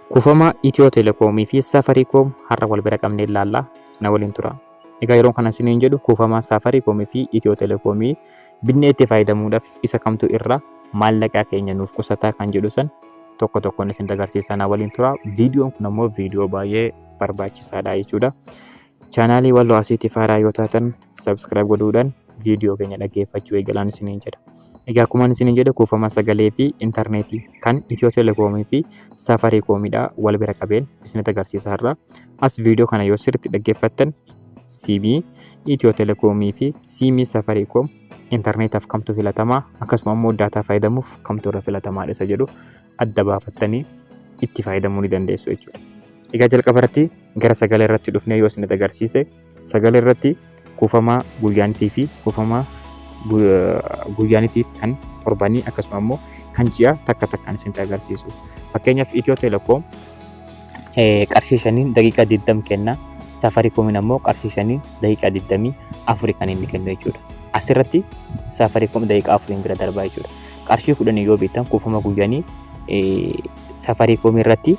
Kuufama Itiyoo Telekoomii fi Safarikoom har'a wal bira qabnee ilaalla. Na waliin tura. Egaa yeroon kana isiniin jedhu kuufama Safarikoomii fi Itiyoo Telekoomii binnee itti fayyadamuudhaaf isa kamtu irra maallaqaa keenya nuuf qusataa kan jedhu san tokko tokkoon isin agarsiisaa na waliin tura. Viidiyoon kun ammoo viidiyoo baay'ee barbaachisaadha jechuudha. Chaanaalii Walloo Asiitiif haaraa yoo taatan subscribe godhuudhaan viidiyoo keenya dhaggeeffachuu eegalaan isiniin jedha. Egaa akkuma isiniin jedhe kuufama sagalee fi intarneetii kan Itiyoo Telekoomii fi Safarikoomidha wal bira qabeen isinitti agarsiisa har'a. As viidiyoo kana yoo sirriitti dhaggeeffattan siimii Itiyoo Telekoomii fi siimii Safarikoom intarneetaaf kamtu filatamaa akkasuma immoo daataa fayyadamuuf kamtu irra filatamaadha isa jedhu adda baafattanii itti fayyadamuu ni dandeessu jechuudha. Egaa jalqaba irratti gara sagalee irratti dhufnee yoo isinitti agarsiise sagalee irratti kuufamaa guyyaanitii fi kuufamaa guyyaanitiif kan torbanii akkasuma immoo kan ji'a takka takkaan isinitti agarsiisu. Fakkeenyaaf Itiyoo Telekoom qarshii shaniin daqiiqaa 20 kenna. Safarikoomiin ammoo qarshii shaniin daqiiqaa 24 kan inni kennu jechuudha. Asirratti Safarikoom daqiiqaa 4 bira darbaa jechuudha. qarshii kudhanii yoo bittan kuufama guyyanii safarii koomii irratti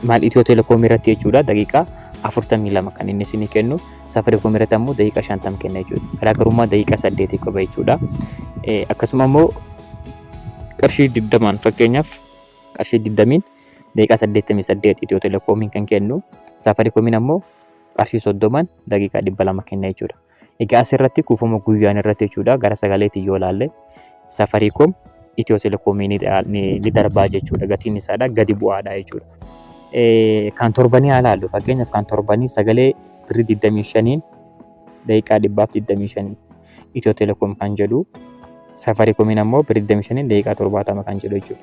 maal itiyoo telekoomii irratti jechuudha daqiiqaa afurtamii lama kan inni isinii kennu safarii koomii irratti ammoo daqiiqaa shantam kenna jechuudha garaagarummaa daqiiqaa saddeetii qaba jechuudha akkasuma ammoo qarshii digdamaan fakkeenyaaf qarshii digdamiin daqiiqaa saddeettamii saddeet itiyoo telekoomiin kan kennu safarii koomiin ammoo qarshii soddomaan daqiiqaa dhibba lama kenna jechuudha. Egaa asirratti kuufama guyyaan irratti jechuudha gara sagaleetiin yoo ilaalle safarikoom itiyoo telekoomii ni darbaa jechuudha gatiin isaadha gadi bu'aadha jechuudha. Kan torbanii haa ilaallu fakkeenyaaf kan torbanii sagalee birrii 25n daqiiqaa dhibbaaf 25 itiyoo telekoom kan jedhu safarikoomiin ammoo birrii 25n daqiiqaa 70 kan jedhu jechuudha.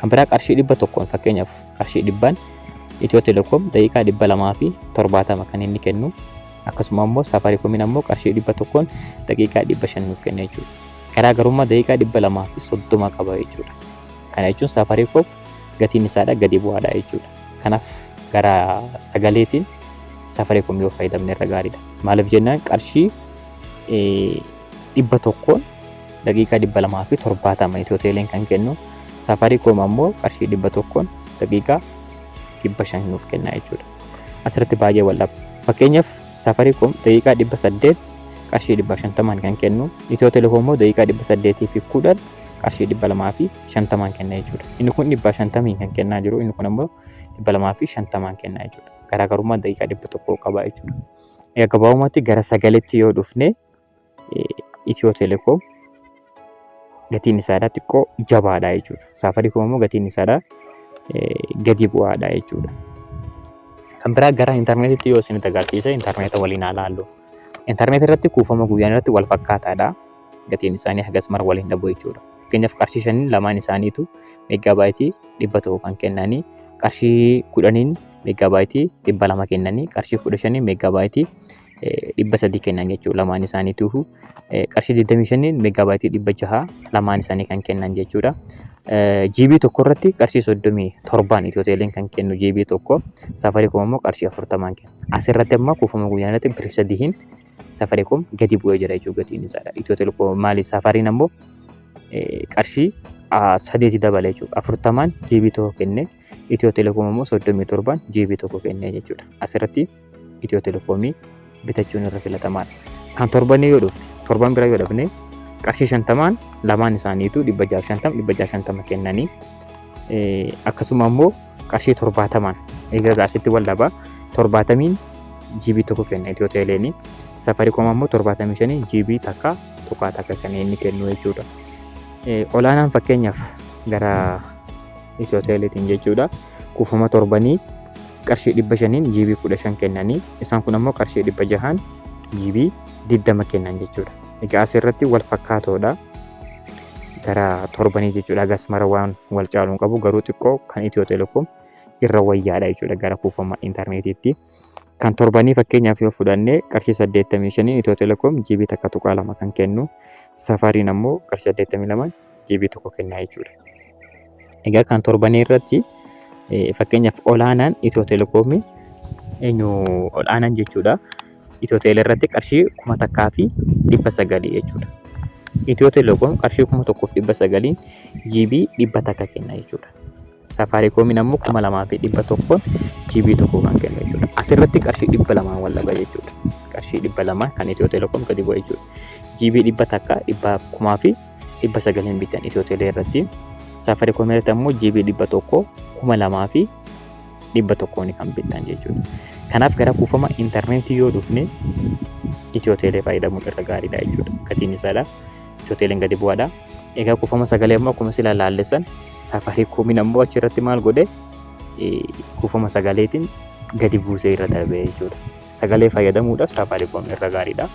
Kan biraa qarshii dhibba tokkoon fakkeenyaaf qarshii dhibbaan Itiyoo Telekoom daqiiqaa dhibba lamaa fi torbaatama kan inni kennu akkasuma immoo Safaariikoomiin ammoo qarshii dhibba tokkoon daqiiqaa dhibba shan nuuf kenna jechuudha. Garaagarummaa daqiiqaa dhibba lamaa fi soddoma qaba jechuudha. Kana jechuun Safaariikoom gatiin isaadha gadi bu'aadha jechuudha. Kanaaf gara sagaleetiin Safaariikoom yoo fayyadamne irra gaariidha. Maaliif jennaan qarshii dhibba tokkoon daqiiqaa dhibba lamaa fi torbaatama Itiyoo Teeleen kan kennu Safarikoom ammoo qarshii dhibba tokkoon daqiiqaa dhibba shan nuuf kenna jechuudha. Asirratti baay'ee wal dhaba. Fakkeenyaaf Safarikoom daqiiqaa dhibba saddeet qarshii dhibba shantamaan kan kennu Itiyoo Telekoom immoo daqiiqaa dhibba saddeetii fi kudhan qarshii dhibba lamaa fi shantamaan kenna jechuudha. Inni kun dhibba shantamiin kan kennaa jiru inni kun ammoo dhibba lamaa fi shantamaan kenna jechuudha. Garaagarummaa daqiiqaa dhibba tokkoo qaba jechuudha. Gabaabumatti gara sagaleetti yoo dhufne Itiyoo Telekoom gatiin isaadhaa xiqqoo jabaadha jechuudha. Saafariikoom immoo gatiin isaadhaa gadi bu'aadha jechuudha. Kan biraa gara intarneetitti yoo isinitti agarsiise intarneeta waliin haa laallu. Intarneetii irratti kuufama guyyaan irratti wal fakkaataadha. Gatiin isaanii hagas mara waliin dhabu jechuudha. Fakkeenyaaf qarshii shaniin lamaan isaaniitu meegaabaayitii dhibba tokko kan kennanii qarshii kudhaniin meegaabaayitii dhibba lama kennanii qarshii kudha shaniin meegaabaayitii dhibba sadii kennan jechuudha lamaan isaaniituu qarshii 25 meegaabaayitii dhibba jaha lamaan isaanii kan kennan jechuudha. GB tokko irratti qarshii 37 Itiyooteeliin kan kennu GB tokko Safaricom immoo qarshii 40 kenna. Asirratti amma kuufama guyyaa irratti birrii sadiin Safaricom gadi bu'ee jira jechuudha gatiin isaadha. Itiyooteelekoom maali Safariin ammoo qarshii saddeeti dabale jechuudha. Afurtamaan GB tokko kenne Itiyoo Telekoom immoo 37n GB tokko kennee jechuudha. Asirratti Itiyoo Telekoomii bitachuun irra filatamaadha. Kan torbanii yoo dhufne torban bira yoo dhufne qarshii shantamaan lamaan isaaniitu dhibba jaaf shantama dhibba jaaf shantama kennanii akkasuma immoo qarshii torbaatamaan egaa gaasitti wal dhabaa torbaatamiin GB tokko kenna Itiyoo Teeleenii safarikoom ammoo torbaatamii shanii GB takka tuqaa takka kan inni kennu jechuudha. Olaanaan fakkeenyaaf gara Itiyoo Teeleetiin jechuudha. Kuufama torbanii qarshii dhibba shaniin jiibii kudha shan kennanii isaan kun ammoo qarshii dhibba jahaan jiibii digdama kennan jechuudha. Egaa asirratti wal fakkaatoodha. Gara torbanii jechuudha agas mara waan wal caaluun qabu garuu xiqqoo kan Itiyoo Teleekoom irra wayyaadha jechuudha gara kuufama intarneetiitti. Kan torbanii fakkeenyaaf yoo fudhanne qarshii 85 Itiyoo Telekoom GB takka tuqaa lama kan kennu safaariin ammoo qarshii 82 GB tokko kennaa jechuudha. Egaa kan torbanii irratti fakkeenyaaf olaanaan Itiyoo Telekoomii eenyu olaanaan jechuudha. Itiyoo Teelee irratti qarshii kuma takkaa fi dhibba sagalii jechuudha. Itiyoo Telekoom qarshii kuma tokkoof dhibba sagalii GB dhibba takka kenna jechuudha. Safaarikoomiin ammoo kuma lamaa fi dhibba tokkoon GB tokko kan kennu jechuudha. Asirratti qarshii dhibba lamaan wal dhaba jechuudha. Qarshii dhibba lamaan kan Itiyoo Telekoom gadi bu'a jechuudha. GB dhibba takka dhibba kumaa fi dhibba sagaliin bitan Itiyoo Telee irratti. Safaarikoomii irratti ammoo GB dhibba tokko kuma lamaa fi dhibba tokkoon kan bitan jechuudha. Kanaaf gara kuufama intarneetii yoo dhufne Itiyoo Telee fayyadamuun irra gaariidha jechuudha. Gatiin isaadha. Itiyoo Teleen gadi bu'aadha. Egaa kuufama sagalee immoo akkuma sila laallessan safarikoomiin ammoo achi irratti maal godhe kuufama sagaleetiin gadi buusee irra darbee jechuudha. Sagalee fayyadamuudhaaf safarikoom irra gaariidha.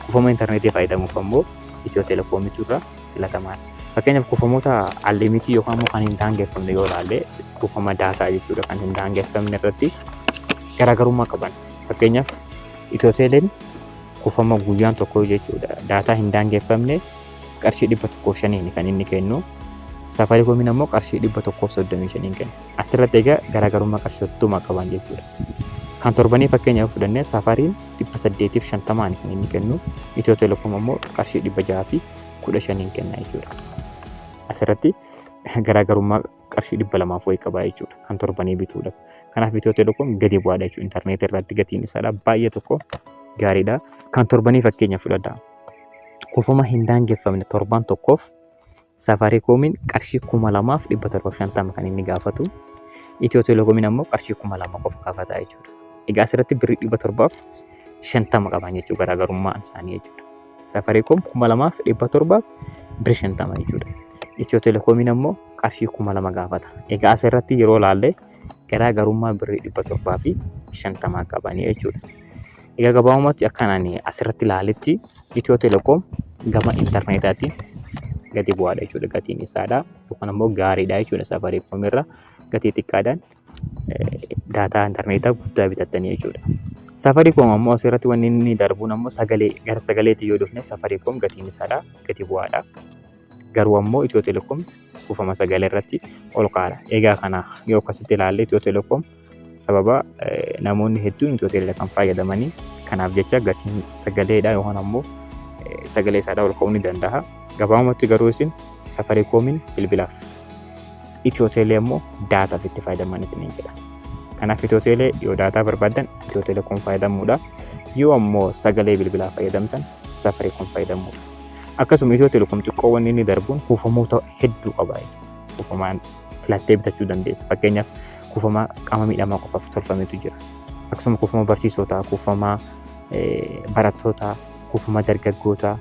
Kuufama intarneetii fayyadamuuf ammoo itiyoo telekoomitu irra filatamaadha. Fakkeenyaaf kuufamoota allimitii yookaan immoo kan hin daangeffamne yoo ilaalle kuufama daataa jechuudha kan hin daangeffamne irratti garaagarummaa qaban. Fakkeenyaaf itiyoo teleen kuufama guyyaan tokko jechuudha daataa hin daangeffamne qarshii 105 kan inni kennu. Safaricoomiin ammoo qarshii 135 kenna. Asirratti egaa garaagarummaa qarshii 30 qaban jechuudha. Kan torbanii fakkeenyaaf fudhannee safariin 850 kan inni kennu. Itiyoo Telekoom ammoo qarshii 615 kenna jechuudha. Asirratti garaagarummaa qarshii dhibba lamaaf wayii qabaa jechuudha kan torbanii bituudha. Kanaaf Itiyoo Telekoom gadi bu'aadha jechuudha intarneetii irratti gatiin isaadha baay'ee tokko gaariidha. Kan torbanii fakkeenya fudhadha. Kufuma hin daangeffamne torbaan tokkoof safaarikoomiin qarshii kuma lamaaf dhibba torbaaf shantama kan inni gaafatu. Itiyoo Telekoomiin ammoo qarshii kuma lama qofa gaafata jechuudha. Egaa asirratti birrii dhibba torbaaf shantama qaban jechuudha garaagarummaan isaanii jechuudha. Safaricom 2700 bir 50 jechuudha. Itiyoo Telekoomiin ammoo qarshii 2000 gaafata. Egaa as irratti yeroo ilaalle garaa garummaa birrii 700 fi 50 qabanii jechuudha. Egaa gabaabumatti akkan ani asirratti ilaaletti Itiyoo Telekoom gama intarneetaatiin gadi bu'aadha jechuudha gatiin isaadha. Yookaan ammoo gaariidha jechuudha Safaricom irra gatii xiqqaadhaan. daataa intarneetaa guddaa bitattanii jechuudha. Safaricom ammoo asirratti wanni inni darbuun ammoo sagalee gara sagaleetti yoo dhufne Safaricom gatiin isaadha gati bu'aadha. Garuu ammoo Itiyoo Telekoom kuufama sagalee irratti ol ka'aadha. Egaa kana yoo akkasitti ilaalle Itiyoo Telekoom sababa namoonni hedduun Itiyoo Telekoom fayyadamanii kanaaf jecha gatiin sagaleedha yookaan ammoo sagalee isaadha ol ka'uu ni danda'a. Gabaabumatti garuu isin Safaricoomiin bilbilaaf. Itiyoo Teelee immoo daataaf itti fayyadaman isiniin jedha. Kanaaf Itiyoo Teelee yoo daataa barbaaddan Itiyoo Teelee kun fayyadamuudha. Yoo ammoo sagalee bilbilaa fayyadamtan safarii kun fayyadamuudha. Akkasuma Itiyoo Teleekoom xiqqoowwan inni darbuun kuufamoota hedduu qaba. Kuufamaan filattee bitachuu dandeessa. Fakkeenyaaf kuufama qaama miidhamaa qofaaf tolfametu jira. Akkasuma kuufama barsiisotaa, kuufama barattootaa kuufama dargaggootaa,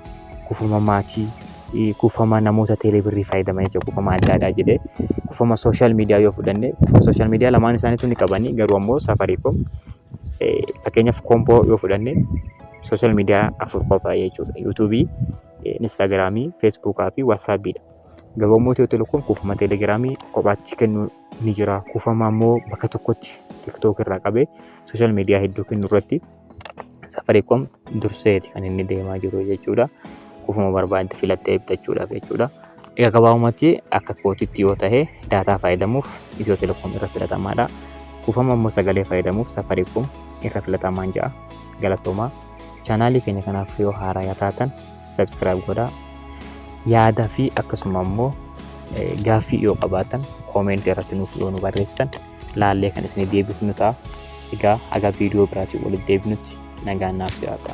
kuufama maatii, kuufama namoota teeleebirrii fayyadaman jechuudha. Kuufama adda addaa jedhee kuufama sooshaal miidiyaa yoo fudhanne sooshaal miidiyaa lamaan isaaniitu ni qabani garuu ammoo safaricom fakkeenyaaf koompoo yoo fudhanne sooshaal miidiyaa afur qofa jechuudha. Yuutuubii, Instaagiraamii, Feesbuukaa fi Waatsaappiidha. Garuu ammoo Itiyoo Telekoom kuufama teelegiraamii kophaatti kennu ni jira. Kuufama ammoo bakka tokkotti tiktook irraa qabee sooshaal miidiyaa hedduu kennu irratti Safaricom durseeti kan inni deemaa jiru jechuudha. Kufuma barbaadde filattee bitachuudhaaf jechuudha. Egaa gabaabumatti akka kootitti yoo ta'e daataa fayyadamuuf Itiyoo Telekoom irra filatamaadha. Kufama immoo sagalee fayyadamuuf Safaricom irra filatamaan ja'a. Galatoomaa. Chaanaalii keenya kanaaf yoo haaraa taatan subscribe godhaa. Yaada fi akkasuma immoo gaaffii yoo qabaatan koomentii irratti nuuf yoo nu barreessitan laallee kan isinii deebifnu ta'a. Egaa haga viidiyoo biraatiin walitti deebinutti nagaan naaf jiraadha.